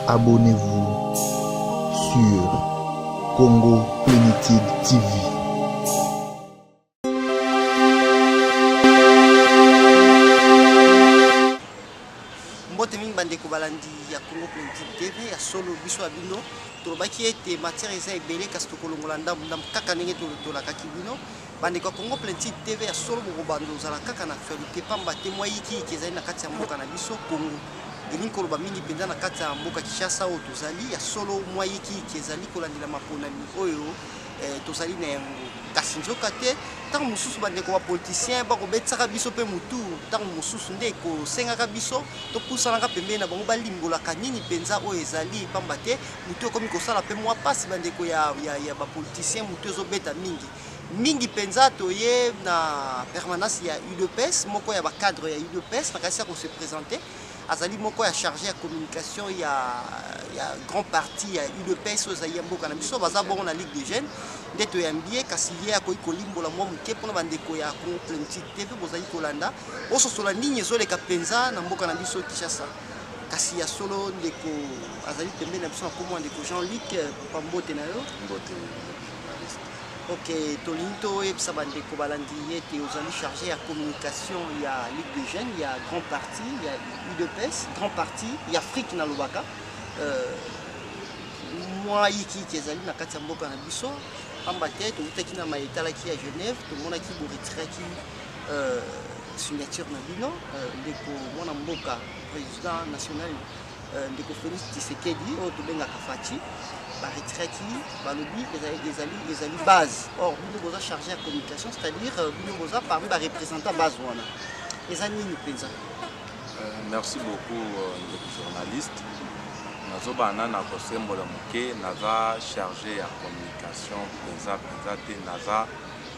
Abonnez-vous sur Congo Plenitude TV. bandeko balandi ya congo politique tv ya solo biso ya bino tolobaki ete matière eza ebele kasi tokolongola ndambu ndambu kaka ndenge tolakaki bino Bandeko ya Congo Plentide TV ya solo bokobanda ozala kaka na actualité pamba te mwa yikiyiki ezali na kati ya mboka na biso Congo. Elingi koloba mingi mpenza na kati ya mboka Kinshasa oyo tozali ya solo mwa yikiyiki ezali kolandela maponami oyo eh, tozali na yango kasi nzoka te ntango mosusu bandeko bapolitisien bakobetisaka biso mpe motu ntango mosusu nde ekosengaka biso topusanaka pembeni na bango balimbolaka nini mpenza oyo ezali mpamba te motu ekomi kosala mpe mwa mpasi bandeko ya, ya, ya bapolitisien motu ezobeta mingi mingi mpenza toye na permanence ya udps moko ya bacadre ya udps nakanisi ya kose présente azali moko ya charge ya communication ya, ya grand parti ya udps oyo ezali ya mboka na biso baza bongo na ligue de jeune nde toyambi ye kasi ye akoki kolimbola mwa moke mpona bandeko ya congo politique te mpe bozali kolanda ososola nini ezoleka mpenza na mboka na biso kinshasa kasi ya solo ndeko azali pembeni na biso na kombo ya ndeko jean luc pambote na yo mbote Ok, tolingi toyebisa bandeko balandi ye ete ozali chargé ya communication ya Ligue des Jeunes ya Grand Parti ya UDPS, Grand Parti ya Afrique nalobaka euh, mwa yikiyiki ezali na kati ya mboka na biso pamba te tokutaki na maye etalaki ya Genève tomonaki boretiraki euh, signature na bino euh, ndeko mwana mboka président national Euh, ndeko Felix Tshisekedi oyo tobengaka Fatshi baretiraki balobi ezali ezali base or bino boza charge ya communication c'est-à-dire euh, bino boza parmi barepresentant base wana eza nini mpenza euh, merci beaucoup ndeko journaliste nazobana nana kosembola moke naza charge ya communication mpenza mpenza te naza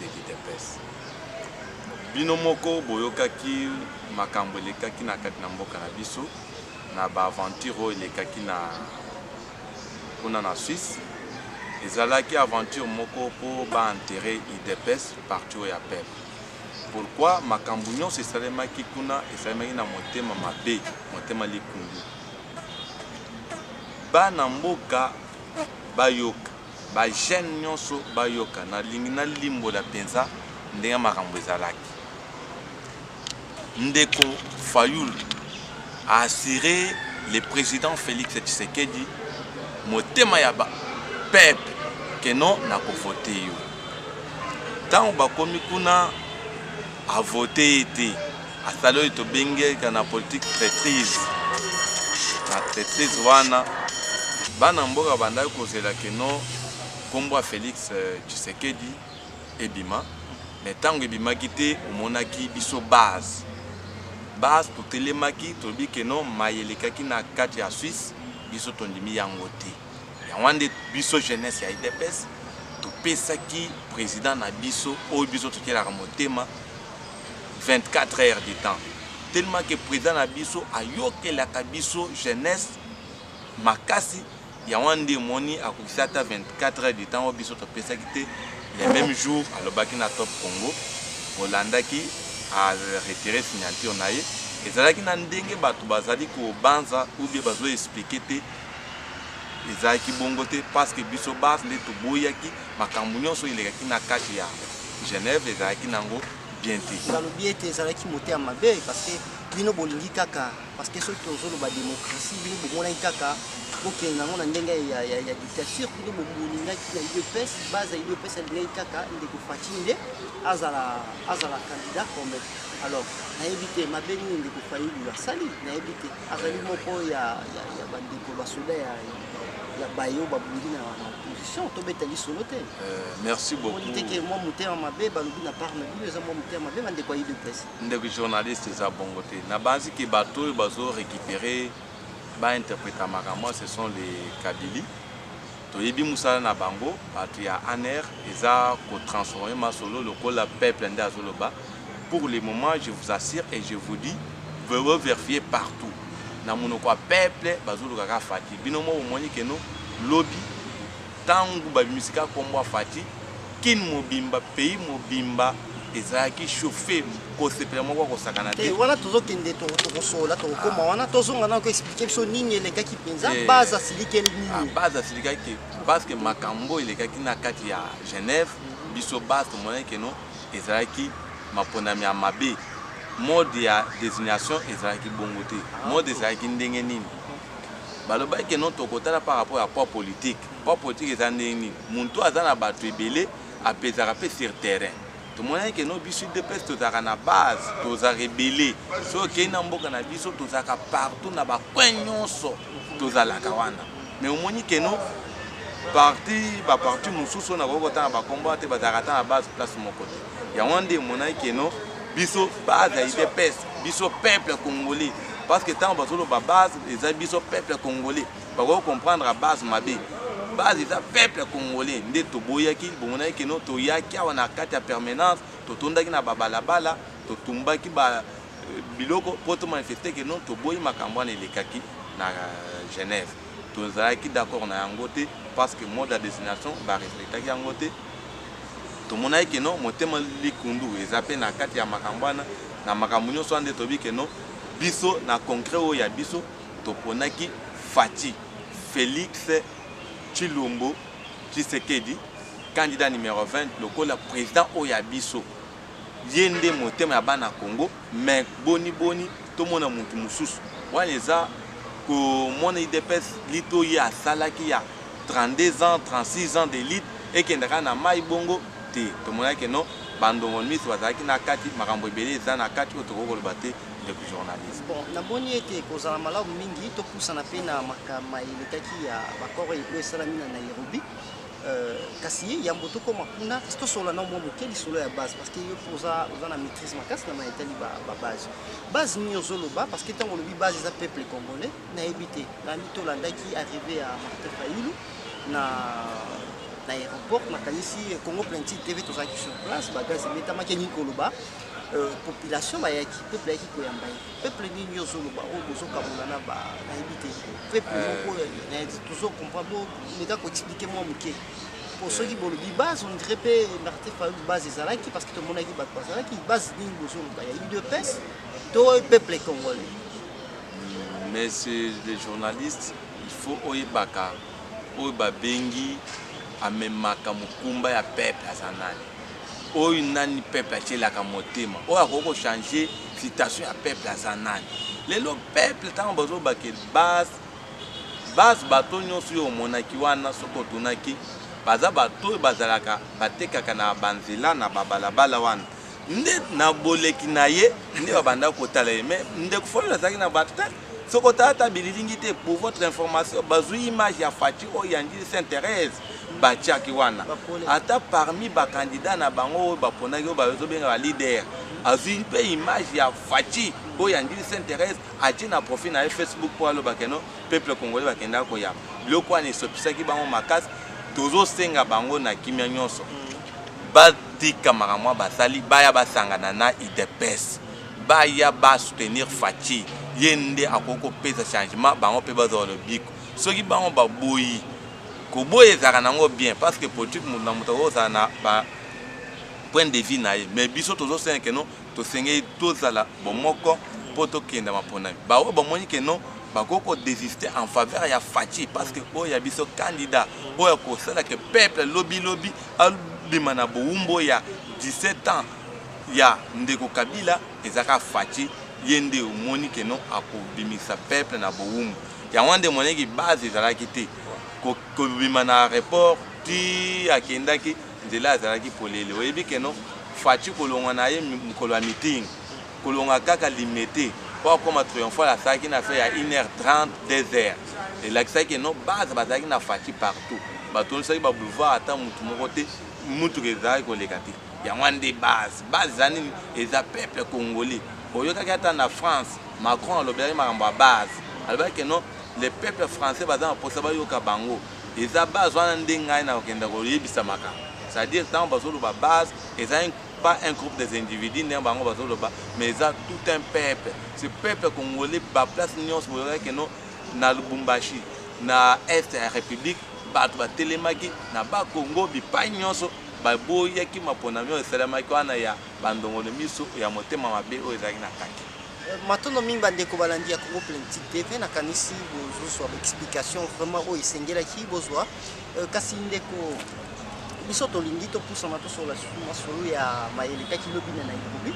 de l'udps bino moko boyokaki makambo elekaki na kati na mboka na biso na ba aventure oyo elekaki na kuna na suisse ezalaki aventure moko mpo ba enterre udps parti oyo ya peuple pourquoi makambo nyonso esalemaki kuna esalemaki na motema mabe motema likundu bana mboka bayoka Ba jeunes nionso bayoka, nalingi nalimbola penza ndenge makambo ezalaki. Ndeko Fayulu a assurer le president Felix Tshisekedi motema ya ba peuple que non nakovote yo. Tango bakomi kuna a vote ye te. Asali oyo tobengeka na politique traitrise. Na traitrise wana bana mboka bandaki kozela keno nkombo ya Felix euh, Tshisekedi ebima, mais ntango ebimaki te, omonaki biso base base totelemaki, tolobi keno maye elekaki na kati ya Suisse biso tondimi yango te. yango wana nde biso jeunesse ya idps topesaki président na biso oyo biso totyelaka motema 24 heures de temps tellement que président na biso ayokelaka biso jeunesse makasi yango wana nde emoni akokisi ata 24 heures de temps oyo biso topesaki te le même jour alobaki na top congo olandaki aretire signature na ye ezalaki na ndenge bato bazali kobanza ou bien bazo explike te Ezalaki bongo te parce que biso bas nde toboyaki makambo nyonso elekaki na kati ya Genève ezalaki nango bien te. Nalobi ete ezalaki moteya mabe parce que bino bolingi kaka parce que soki tozoloba démocratie bino bomonaki kaka bokende nango na ndenge ya, ya, ya dictature bino bolingaki na udps base ya udps alingaki kaka ndeko faci nde azala azala candidat comme alors nayebi te mabe nini ndeko fayulu asali nayebi te azali moko ya, ya, ya bandeko basoda ya, ya baye oyo babundi na opposition tobeta lisolo te euh, merci beaucoup te ke mwa motema mabe balobi na part na bino eza mwa motema mabe bandeko ya udps ndeko journaliste eza bongo te nabanzi ke bato oyo bazo récupérer bainterpréta makambo ce sont les kabili Toyebi musala na bango batu ya anr eza ko transformer masolo lokola peuple nde azo loba pour le moment je vous assure et je vous dis bo verifier partout na munoko ya peuple bazo luka ka Fatshi bino moko bomoni que no lobi tangu ba bimisi ka kombo ya Fatshi Kin mobimba pays mobimba ezalaki chauffe kosepela moko akosakana te eh, wana tozokende tokosolola tokokoma wana tozonga nao koexplike biso nini elekaki mpenza eh, base asilikeli nini ah, base asilikaki parceke makambo elekaki na kati ya genève mhm. biso base tomonaki keno ezalaki maponami ya mabe mode ya désignation ezalaki bongo te ah, mode ezalaki ndenge nini balobaki keno tokotala par rapport ya poids politique Port politique eza ndenge nini? Muntu aza na batu ebele apesaka pe sur terrain. Tomonaki ke no biso UDPS tozalaka na base, tozalaka ebele. Soki okeyi na mboka na biso tozalaka partout na ba coins nionso tozalaka wana. Mais omoni ke no parti ba parti mususu oyo nakoki kotanga ba kombo awa te bazalaka ata na base place moko te. Yango wana nde emonaki ke no biso base ya UDPS biso peuple congolais parce que tango bazoloba base eza biso peuple congolais. bakoki comprendre à base mabe base eza peuple congolais nde toboyaki bomonaki keno toyaki awa na kati ya permanence totondaki na babalabala totumbaki ba euh, biloko mpo tomanifeste keno toboyi makambo wana elekaki na euh, genève tozalaki d'accord na yango te parce que mode ya destination barespectaki yango te tomonaki keno motema likundu eza mpe na kati ya makambo wana na makambo nyonso wana nde toyebi keno biso na concret oyo ya biso Toponaki Fatshi, Felix Tshilombo Tshisekedi, candidat numero 20 lokola president oyo ya biso. Ye nde motema ya bana Congo, mais boni boni tomona mutu mususu. Wana eza komona udps lite oyo ye asalaki ya 32 ans, 36 ans de lite ekenda kaka na mayi bongo te. Tomonaki ke non, ba ndongol miso bazalaki na kati, makambo ebele eza na kati oyo tokoki koloba te. ndeko journaliste bon namoni ete kozala malamu mingi topusana mpe na makama elekaki ya bakoro oyo esalami na nairobi euh, kasi yambo tokoma kuna kasi tosola na mwa moke lisolo ya base parce que yo mpo oza na maîtrise makasi na mayetali babase base nini ozoloba parce que ntango olobi base eza peuple congolais nayebi te nani tolandaki arrive ya martin fayulu na na aéroport nakanisi congo plenti tv tozalaki sur place bagaz emetamaki elingi koloba Euh, population bayaki peuple ayaki koyamba ye peuple nini yo ozoloba oyo bozokabola na bayebi te peuple euh. moko euh, tozocomprendre meka koexplike mwa moke po soki bolobi base on dirait mpe martin fayulu base ezalaki parce que tomonaki bato bazalaki base nini bozoloba ya udps to peuple congolais monsieur le journaliste il faut oyebaka Oyo ba bengi amemaka mokumba ya peuple aza nani? Oyo nani peuple atielaka motema? Oyo akoki ko changer situation ya peuple aza nani? Lelo peuple tango bazo bake base base bato nyonso yo omonaki wana soki otunaki baza bato oyo bazalaka batekaka na ba nzela na ba balabala wana nde na boleki na ye nde babandaki kotala ye mais ndeko fayulu azalaki na bato te soki otala ata bililingi te pour votre information bazwi image ya faci oyo ya njili saint thérèse batiaki wana ata parmi bakandida na bango oyo baponaki oyo bazobenga balider azwi mpe image ya faci oyo ya njili saint thérèse atie na profil na ye facebook mpo aloba keno peuple congolais bakendaka koyamba biloko wana esopisaki bango makasi tozosenga bango na kimia nyonso mm. batika makambo basali baya basangana na udps baya ba soutenir faci ye nde akoki kopesa changement bango mpe bazwa lobiko soki bango baboyi koboya ezalaka nango bien parce que politique moto na moto akozala na ba point de vue na ye mais biso tozosengeke no tosengeli tozala bomoko mpo tokenda maponami baoyo bamoni ke non bakoki kodesiste en faveur ya faci parce que oyo ya biso candidat oyo akosala ke peuple lobilobi abima na bowumbo ya 17 ans ya ndeko kabila ezaka faci ye nde omoni ke non akobimisa peuple na bowumbu yango wana nde emonaki base ezalaki te kobima na aéroport ti akendaki Nzela azalaki polele oyebi que non Fatshi kolongwa na ye mokolo ya meeting kolonga kaka Limete mpo akoma triomphal asalaki na affaire ya 1h30 2h elakisaki que non base bazalaki na Fatshi partout batondisaki ba boulevard ata motu moko te motuka ezalaki koleka te yango wana nde base base eza nini eza peuple congolais oyokaki ata na France Macron alobelaki makambo ya base alobaki que non le peuple français baza na mposa bayoka bango Eza base wana nde ngai na kokenda koyebisa makambo. C'est à dire tango bazoloba base eza pas un groupe des individus ndenge bango bazoloba mais eza tout un peuple ce peuple congolais baplace nyonso boyokaki keno na lubumbashi na est ya république bato batelemaki na bakongo bipai nyonso baboyaki maponami oyo esalemaki wana ya bandongolo miso ya motema mabe oyo ezalaki na kati Matondo mingi bandeko balandi ya Congo Politique TV, nakanisi bozozwa explication vraiment oyo esengelaki bozwa. Euh, kasi ndeko biso tolingi topusana tosola masolo ya mayele kaki lobi na Nairobi,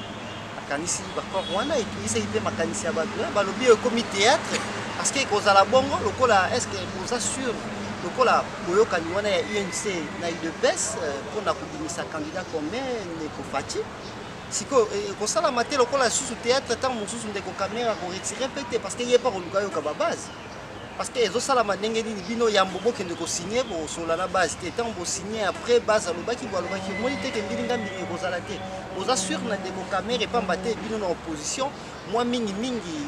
nakanisi bakor wana etungisaki mpe makanisi ya bato eh, balobi oyo ekomi théâtre parce que ekozala bongo lokola est ce que boza sur lokola boyokani wana ya UNC na UDPS euh, mpo na kobimisa candidat commun Neko Fatshi sikoyo eh, ekosalama te lokola lisusu théâtre ntango mosusu ndeko kamera koretire mpe te parce que ye mpe akoluka yoka babase parce que ezosalama ndenge nini bino yambo bokende kosigne bosola na base te ntango bosigne après base alobaki bo alobaki omoni te ke mbilinga mbilinga ekozala te boza sur na ndeko kamera epamba te bino na opposition mwa mingi mingi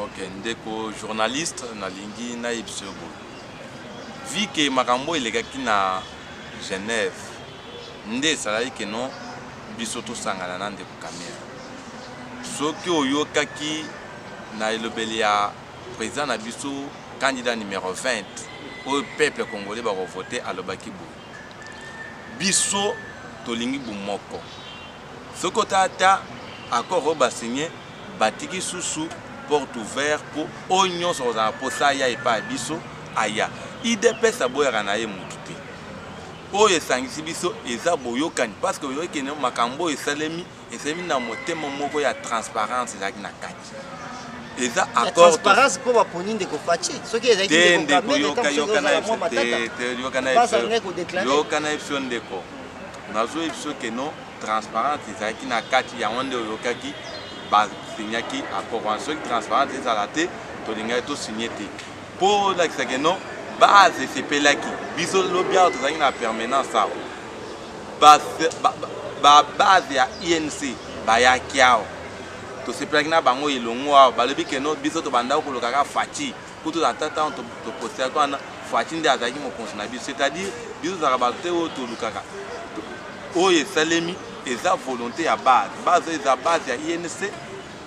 ok ndeko journaliste nalingi nayebisa yo boye vi ke makambo elekaki na genève nde esalaki ke non biso tosangana na ndeko kamere soki oyokaki na elobeli ya président na biso candidat numéro 20 oyo peuple congolais bakovote alobaki boye biso tolingi bomoko Soki ota ata accord oyo ba signe batiki susu porte ouvert mpo oyo nyonso akozala na mposa aya epai ya biso aya. Udps aboyaka na ye motu te. Oyo esangisi biso eza boyokani parce que oyoki kende makambo oyo esalemi esalemi na motema moko ya transparence ezalaki na kati eza accord transparence mpo baponi ndeko faci soki ezalaki te ndeko yoka yoka na yoka na episode ndeko Nazo yebiso que non transparence ezalaki na kati yango nde oyokaki ba signaki accord wana soki transparence ezala te tolingaki to signe te mpo olakisa que non base esepelaki biso lobi awa tozalaki na permanence awa babase ya inc bayaki awa tosepelaki na bango elongo awa balobi keno biso tobandaki kolokaka faci kutu na tata ntango topostaki wana fati nde azalaki mokonzi na biso c'est-à-dire biso tozalaka bato te oyo tolukaka oyo esalemi eza volonté ya base base oyo eza base ya inc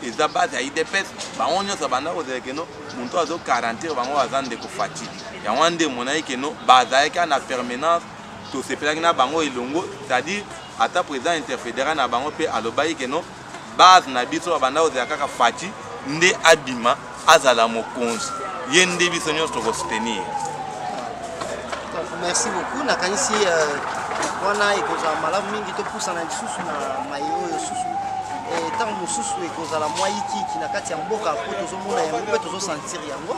eza base ya idps bango nyonso abanda kozala keno moto azo garantir bango baza ndeko fati yango wana nde emonaki keno bazalaki na permanence tosepelaki na bango elongo c'est-à-dire ata président interfédéral na bango mpe alobaki keno base na biso babanda kozela kaka faci nde abima azala mokonzi ye nde biso nyonso tokosoutenir merci beaucoup nakanisi euh, wana ekozala malamu mingi topusana lisusu na maye oyo susu ntango eh, mosusu ekozala mwa yikiyiki na kati ya mboka mpo tozomona yango mpe tozosentir yango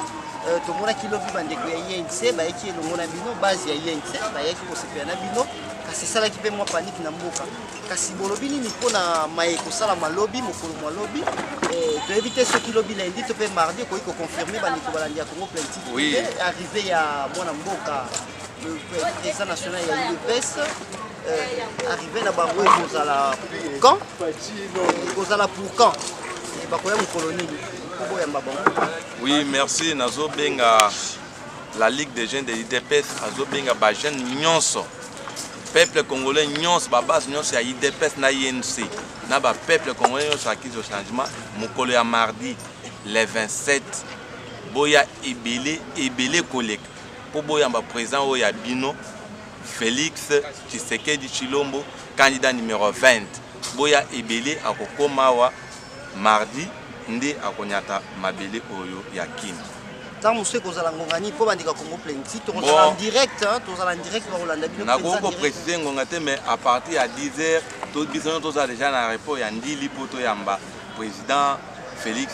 euh, tomonaki lobi bandeko ya inc bayaki elongo na bino base ya inc bayaki kosepela na bino kasi esalaki mpe mwa paniki na mboka Kasi bolobi nini mpo na maye kosalama lobi mokolo mwa lobi eh, toyebi te soki lobi lundi to mpe mardi ekoki koconfirme bandeko balandi ya congo plaintif oui. arrivé ya mwana mboka le président national ya udps euh, arrivé na bango ekozala quand ekozala pour quand eh, bakoya mokolo nini koboyamba bango oui merci nazobenga la ligue des jeunes de l'idps azobenga bajeune nyonso peuple congolais nyonso babase nyonso ya idps na inc na bapeuple congolais nyonso akizo changement mokolo ya mardi le 27 boya ebele ebele koleka mpo boyamba président oyo ya bino félix tshisekedi tshilombo candidat numero 20 boya ebele akokoma awa Mardi nde akonyata mabele oyo ya Kin. ntango mosusu ekozala ngonga nini mpo bandika congo plenty tokozala en direct tozala en direct bakolanda bino nakoki koprecise ngonga te mais à partir ya 10 heures biso nyonso tozala déjà na repos ya ndili mpo toyamba président félix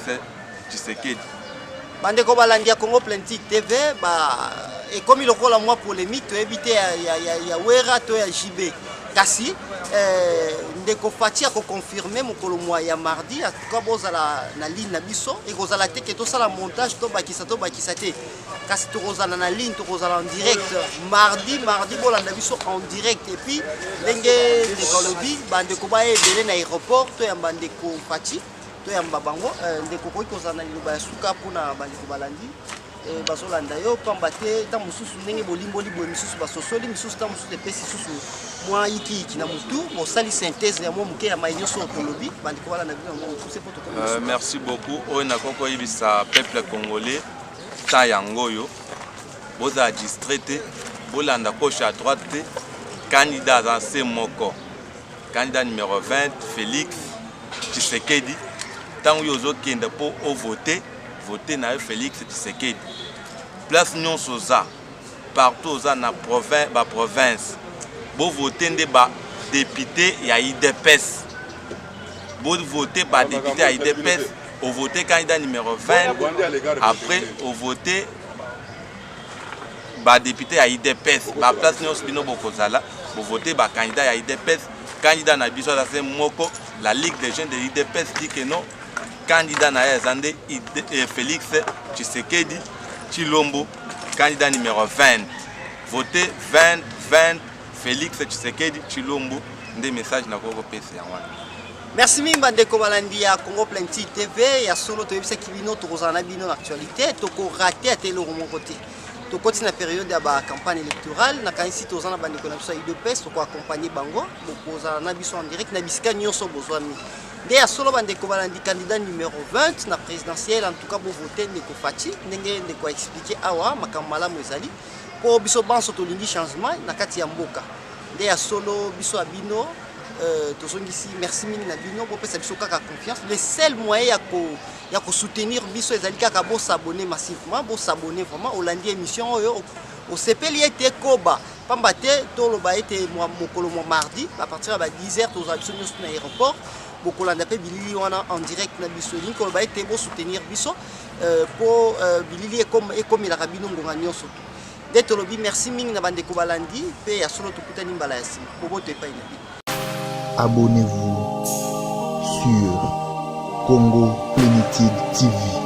tshisekedi bandeko balandi ya congo plenty tv ba ekomi lokola mwa polémique toyebi te ya, ya, ya, ya wera to ya jb kasi eh, ndeko fati akoconfirme mokolo mwa ya mardi atuka bozala na ligne na biso ekozala te ke tosala montage tobakisa tobakisa te kasi tokozala na ligne tokozala en direct mardi mardi bolanda biso en direct epuis ndenge ndeko alobi bandeko baya ebele na aéroport toyamba ndeko fati toyamba bango eh, ndeko okoki kozala na liloba ya suka mpona bandeko balandi Eh, bazolanda yo pamba te ntan mosusu ndenge bolimboli boye misusu basosoli misusu ntan mosusu epesi susu mwa yikiyiki na motu bosali synthèse ya mwa moke ya mai nyonso oyo tolobi bandeko wana na bino yango mokuse mpo tokomi euh, merci beaucoup oyo nakoki koyebisa peuple congolais ntan yango oyo bozala distrait te bolanda gauche à droite te kandida aza se moko kandida numero 20 félix tshisekedi ntango yo ozokende mpo ovote vote na yo Felix Tshisekedi place nyonso oza partout oza na provin, ba province bovote nde ba député ya idps bovote ba député ya idps ovote candidat numéro 20 après ovote badepute ya idps baplace nyonso bino bokozala bovote bakandidat ya idps candidat na biso aza se moko la ligue des jeunes de idps dit que non Candidat na ye aza nde eh, Felix Tshisekedi Chilombo, candidat numéro 20. Votez 20 20 Felix Tshisekedi Chilombo nde message na koko pesa yango wana. Merci mingi bandeko balandi ya Congo Plenty TV ya solo toyebisaki bino tokozala na bino na actualité tokorate ata eloko moko te tokoti na periode ya bacampagne électorale nakanisi toza na bandeko na biso ya udps tokoaccompagne bango bokozala na biso en direct na bisika nyonso bozwami Nde ya solo bandeko balandi candidat numero 20 na presidentielle en tout cas bo voter ndeko Fatshi ndenge ndeko a expliquer awa makambo malamu ezali po biso banso tolingi changement na kati ya mboka nde ya solo biso ya bino Euh, tozongisi merci mingi na bino bopesa biso kaka confiance le seul moyen ya ko ya kosoutenir biso ezali kaka bosabone massivement bosabone vraiment olandi émission oyo osepeli ete ekoba pamba te toloba ete mokolo mwa mardi bapartir ya ba 10 heures tozala biso nyonso na aéroport bokolanda mpe bilili wana en direct na biso elingi koloba ete bosoutenir biso mpo euh, euh, bilili ekomelaka bino ngonga nyonso to nde tolobi merci mingi na bandeko balandi mpe ya solo tokutani mbala ya nsima boboto epai na bino abonnez-vous sur congo plenitude tv